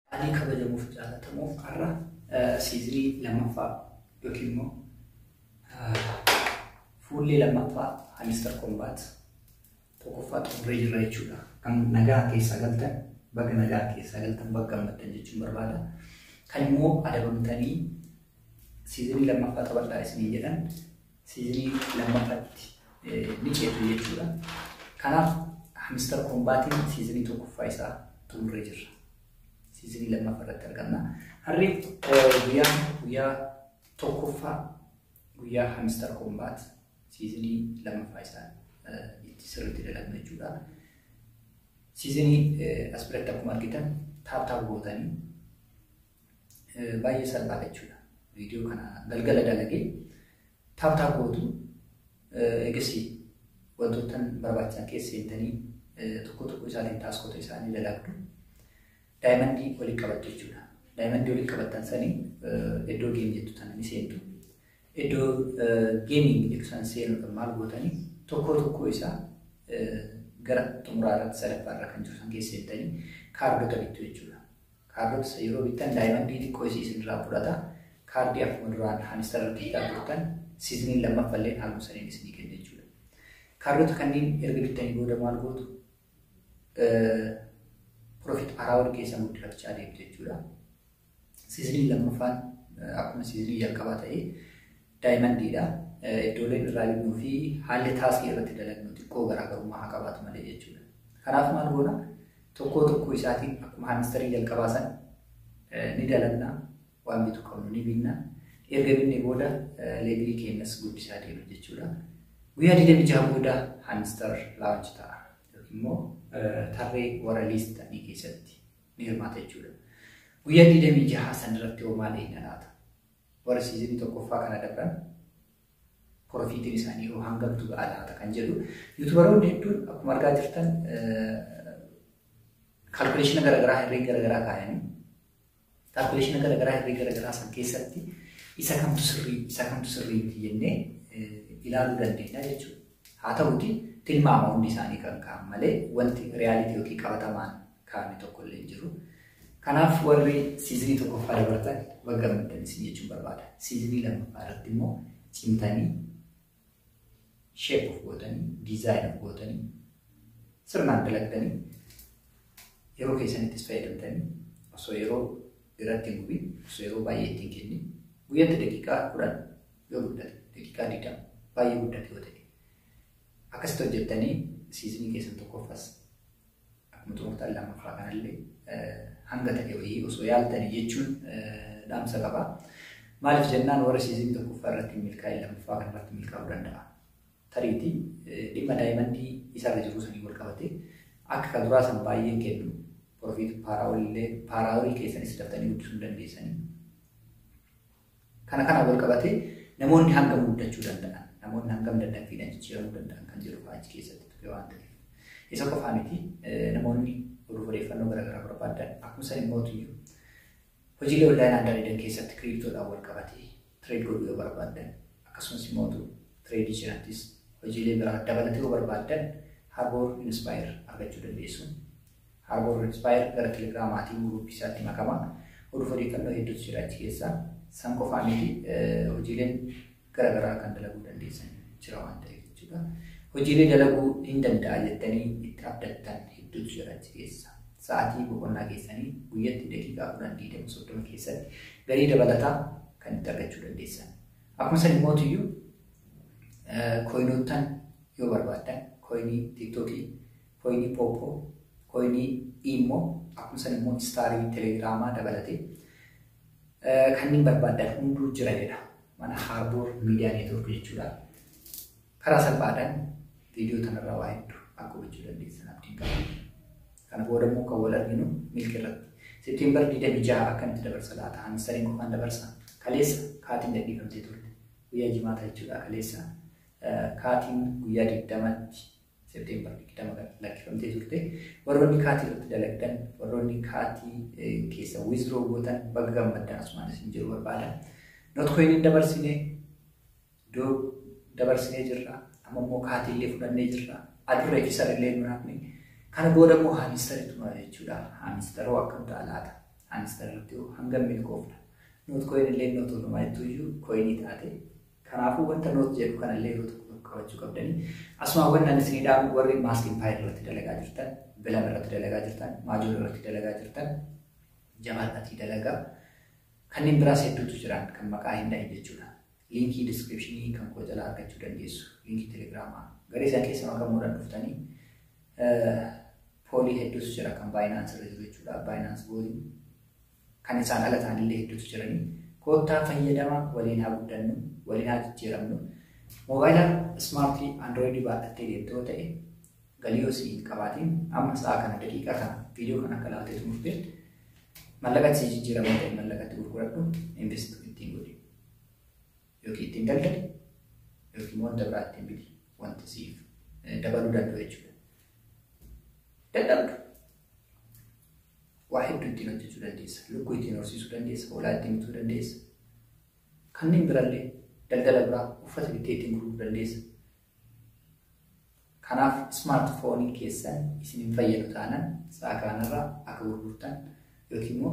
Haalli kabajamuu fi jaalatamuuf har'a siizinii lammaffaa yookiin immoo fuullee lammaffaa Hamister Kombaat tokkoffaa xumuree jirra jechuudha. Kan nagaa keessaa galtan baga nagaa keessaa galtan baga gammaddan jechuun barbaada. Kan immoo adabamtanii siizinii lammaffaa taphadhaa isinii jedhan Siirii lammaffatti ni ceetu jechuudha. Kanaaf Mister Kombaatiin siizinii tokkoffaa isaa xumurree jirra. Siizinii lammaffaa irratti argamna. Harri guyyaa guyyaa tokkoffaa guyyaa Hamister Kombaat siizinii lammaffaa isaa itti sirriitti dalagna jechuudha. Siizinii as biratti akkuma argitan taaptaap gootanii Baay'ee salphaa jechuudha. Viidiyoo kana galgala dalagee taap taap gootu eegasii wantoota barbaachisan keessa seentanii tokko tokko isaatiin taaskota isaanii dalagdu. Daayimandii walitti qabattu jechuudha. Daayimandii walitti qabattan sanii iddoo geem jettu tana ni seentu. Iddoo geemiin jettu sana seenuudhaan maal gootanii tokko tokko isaa gara xumuraarratti sadaffaarra kan jiru san keessa seentanii kaardota bittu jechuudha. Kaardoota san yeroo bittan daayimandii xiqqoo isii isin irraa fudhata. Kaardii akkuma duraan haanister irratti bitaa turtan siiziniin lammaffa illeen haaluma saniin isinii kenna jechuudha. Kaardoota kanniin erga bittanii booda maal gootu? Profit araawwan keessan guddifachaa deemtu jechuudha. Siiziniin lammaffaan akkuma siizinii jalqabaa ta'ee daayimandiidha. Iddooleen irraa binnuu fi haalli taaskii irratti dalagnu xiqqoo garaagarummaa haa qabaatu malee jechuudha. Kanaaf maal goona? Tokkoo tokkoo isaatiin akkuma haamistarii jalqabaa san ni dalanna waan bitu qabnu ni binna. Erga binnee booda leevilii keenyas guddisaa deema jechuudha. Guyyaa 26 booda haamistar launch ta'a yookiin immoo tarree warra liist ta'anii keessatti ni hirmaata jechuudha. Guyyaa 26 san irratti hoo maal eegna laata? warri siizinii tokkoffaa kana dabran porofiitiin isaanii yoo hangamtu ga'a laata kan jedhu yuutubaroonni hedduun akkuma argaa jirtan kaalkuleeshina garaagaraa herree garaagaraa kaayanii kaalkuleeshina garaagaraa herree garaagaraa san keessatti isa kamtu sirrii isa kamtu sirrii miti jennee ilaaluu dandeenya jechuudha. Haa ta'uti tilmaama hundi isaanii kan ka'an malee wanti riyaalitii yookiin qabatamaan kaa'ame tokko illee hin jiru. Kanaaf warri siizinii tokkoffaa dabartan baga gammaddan isin jechuun barbaada. Siizinii lammaffaa irratti immoo cimtanii sheep of gootanii diizaayin of gootanii sirnaan dalagdanii yeroo keessanittis fayyadamtanii osoo yeroo irratti hin gubiin osoo yeroo baay'ee ittiin kennin guyyatti daqiiqaa kudhan yoo guddate daqiiqaa digdama baay'ee guddate yoo ta'e akkasitti hojjettanii siizinii keessan tokkoffas Akkuma tooftaa lammaffaa kanallee hanga ta'e wayii osoo yaaltanii jechuun dhaamsa qaba. Maaliif jennaan warri siizin tokkoffaa irratti milkaa'e lammaffaa kana irratti milkaa'uu danda'a. Tariiti dhimma daayimandii isarra jiruu sanii wal qabate akka kan duraa san baay'een kennu porofiit paaraawolillee paaraawolii keessanis daftanii guddisuu hin dandeessanii. Kana kanaan wal qabatee namoonni hangam guddachuu danda'an, namoonni hangam daddaffiidhaan jijjiiramuu danda'an kan jedhu fa'aa achi keessatti tuqe waan ta'eef. Isa qofaa miti namoonni oduuf odeeffannoo garaagaraa barbaadan akkuma san immoo iyyuu hojiilee onlaayinaan dalagan keessatti kiriiptoodhaan wal qabatee tireed godhuu yoo barbaadan akkasumas immoo tireedii cinattis hojiilee biraa dabalatee yoo barbaadan Harboor Inspire argachuu dandeessu. Harborn Redspire gara Telegram maatii group isaatti makama. Oduuf odeeffannoo hedduutu jira achi keessa. San qofaa miti hojiileen gara garaa kan dalaguu dandeessan jira waan ta'eef jechuudha. Hojiilee dalaguu hin danda'a jettanii itti abdattan hedduutu jira achi keessa. Sa'aatii boqonnaa keessanii guyyatti daqiiqaa kudhan digdama soddoma keessatti galii dabalataa kan itti argachuu dandeessan. Akkuma san immoo iyyuu kooyinoottan yoo barbaaddan kooyinii tiiktookii Koyinii Popo, koyinii Imo, akkuma san immoo istaarii telegiraamaa dabalatee kanneen barbaadan hunduu jira jedha mana Harbour Media Network jechuudha. Karaa salphaadhaan viidiyoo kanarraa waa hedduu akka hubachuu dandeessan abdiin qaba. Kana booda immoo kan wal arginu milki irratti. Seepteembar 26 akkamitti dabarsa laata? Hamistariin qofaan dabarsa. Kaleessa kaatiin gadhiifamtee turte. Guyyaa jimaata jechuudha kaleessa. Kaatiin guyyaa 20tti September 20 kan lakkifamtee turte. Warroonni kaatii irratti dalagdan, warroonni kaatii keessa withdraw gootan baga gammaddan asumaan isin jiru barbaada. Notcoin hin dabarsine, do dabarsinee jirra. Amma immoo kaatii illee fudhannee jirra. Adurree fi sarellee nu naafne. Kana booda immoo haamistaritu nuna jechuudha. Haamistaroo akkam ta'a laata? Haamistarratti hangam milkoofna? Notcoin illee notuunumaa jettuyyuu coinii taate Kanaafuu wanta note jedhu kanallee yeroo tokko tokko qabachuu qabdanii. Asumaan wanni ani isinii dhaamu warri mask empire irratti dalagaa jirtan, bilan irratti dalagaa jirtan, maajoor irratti dalagaa jirtan, jabaadhatii dalagaa. Kanneen biraas hedduutu jiran kan maqaa hin dhahin jechuudha. Liinkii diskiripshinii kan koo jalaa argachuu dandeessu. Liinkii telegiraamaa. Garee isaan keessa makamuudhaan dhuftanii poolii hedduutu jira kan baayinaansi irra jiru jechuudha. Baayinaansi booliin Kan isaan ala ta'anillee hedduutu jiranii. Koottaa fayyadama waliin haa guddannu, waliin haa jijjiiramnu. Moobaayila ismaartii Android baadhattee deemta yoo ta'e, galii yoo sii hin qabaatiin, amma sa'a kana daqiiqaa kana viidiyoo kana akka ilaaltee xumurte mallaqa itti sii jijjiirama yoo ta'e mallaqa itti gurguradhu, invest ittiin godhi. Yookiin ittiin daldali, yookiin wanta biraa ittiin biti. Wanta siif dabaluu danda'u jechuudha. Dadhabdu. Waa hedduu ittiin hojjechuu dandeessa. Lukkuu ittiin horsiisuu dandeessa. Hoolaa ittiin bituu dandeessa. Kanneen birallee daldala biraa uffata bittee ittiin gurguruu dandeessa. Kanaaf ismaartifoonii keessan isin hin fayyadu taanaan sa'a kanarraa akka gurgurtan yookiin immoo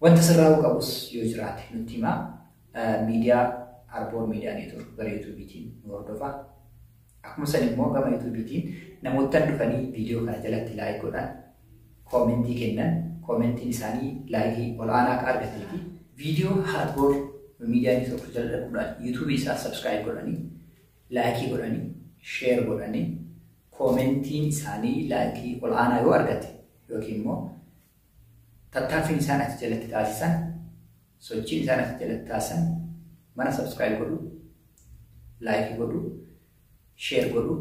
Wanta sirraa'uu qabus yoo jiraate nutti himaa. Miidiyaa Arboor Miidiyaa Neetwoork gara Yuutuubiitiin nu hordofaa. Akkuma san immoo gama Yuutuubiitiin namoottan dhufanii viidiyoo kana jalatti laayik godhan, koomentii kennan, koomentiin isaanii laayikii ol'aanaa akka argatee fi viidiyoo Arboor Miidiyaa Neetwoork jala dhaquudhaan Yuutuubii isaa sabskiraayib godhanii, laayikii godhanii, sheer godhanii, koomentiin isaanii laayikii ol'aanaa yoo argate yookiin immoo Tattaaffiin isaan achi jalatti taasisan, sochiin isaan achi jalatti taasisan mana subscribe godhu, like godhu, share godhu,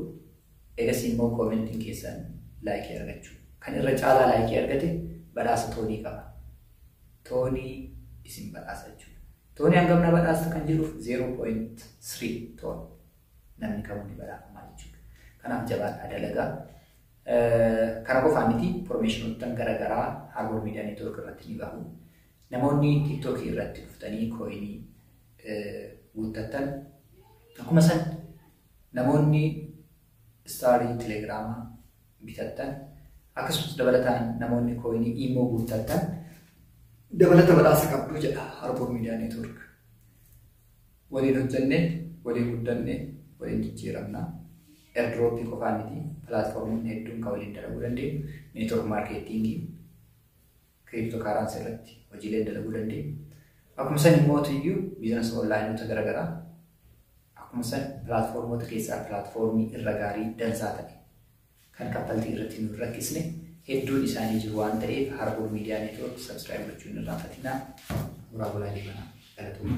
egasii immoo commentiin keessan like argachuu. Kan irra caalaa like argate badhaasa toonii qaba. Toonii isin badhaasa jechuudha. Toonii hangam na badhaasta kan jedhuuf 0.3 toon namni kamuu ni badhaafama jechuudha. Kanaaf jabaadhaa dalagaa. Kana qofaa miti promotionottan gara garaa Harbor Media Network irratti ni bahu. Namoonni TikTok irratti dhuftanii kooyinii guuttattan akkuma san namoonni istaarii telegiraamaa bitattan akkasumas dabalataan namoonni kooyinii imoo guuttattan dabalata badhaasa qabdu jedha Harbor Media Network. Waliin hojjannee waliin guddanne waliin jijjiiramna. Airdrop qofaa miti platformonni hedduun kan waliin dalaguu dandeenyu network marketing cryptocurrency irratti hojiileen dalaguu dandeenyu. Akkuma san immoo tuyyu business onlineota garaagaraa akkuma san platformota keessaa platformii irra gaarii dansaa ta'e kan kaffaltii irratti nu rakkisne hedduun isaanii jiru waan ta'eef Harbour Media Network subscribe gochuun irraa fatinaa muraa bulaa jibanaa galatooma.